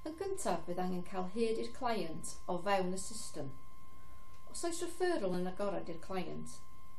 Yn gyntaf, bydd angen cael hyd i'r client o fewn y system. Os oes referral yn agored i'r client,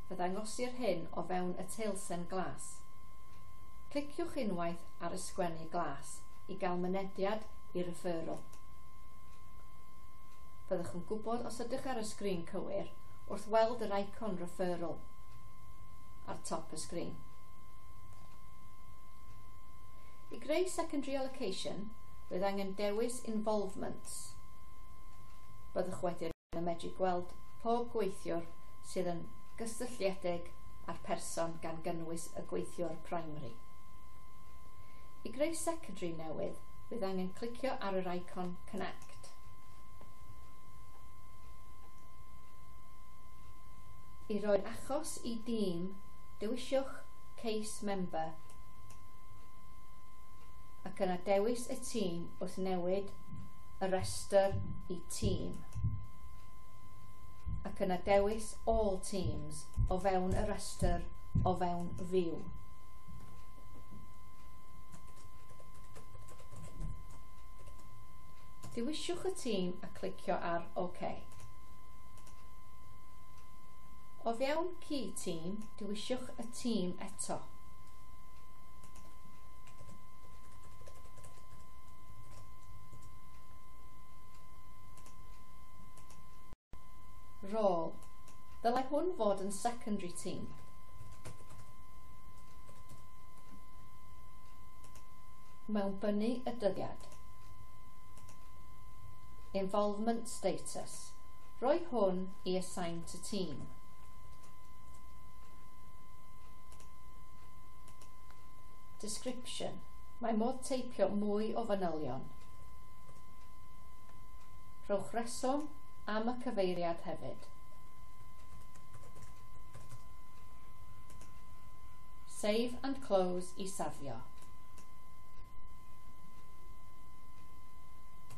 fe ddangosir hyn o fewn y teilsen glas. Cliciwch unwaith ar y sgwennu glas i gael mynediad i referral. Byddwch yn gwybod os ydych ar y sgrin cywir wrth weld yr icon referral ar top y sgrin. I greu secondary allocation, bydd angen dewis involvements. Byddwch wedyn yn medru gweld pob gweithiwr sydd yn gysylltiedig â'r person gan gynnwys y gweithiwr primary. I greu secondary newydd, bydd angen clicio ar yr icon Connect. I roi'r achos i dîm, dewisiwch Case Member ac yna dewis y tîm wrth newid y rhestr i tîm ac yna dewis All Teams o fewn y rhestr o fewn View. Dewisiwch y tîm a clicio ar OK. O fewn Key Team, Dewiswch y tîm eto. Rôl. Dylai hwn fod yn secondary team. mewn bynu y dyddiad. Involvement status. Roi hwn i assign to team. Description. Mae modd teipio mwy o fanylion. Rhowch reswm am y cyfeiriad hefyd. Save and close i safio.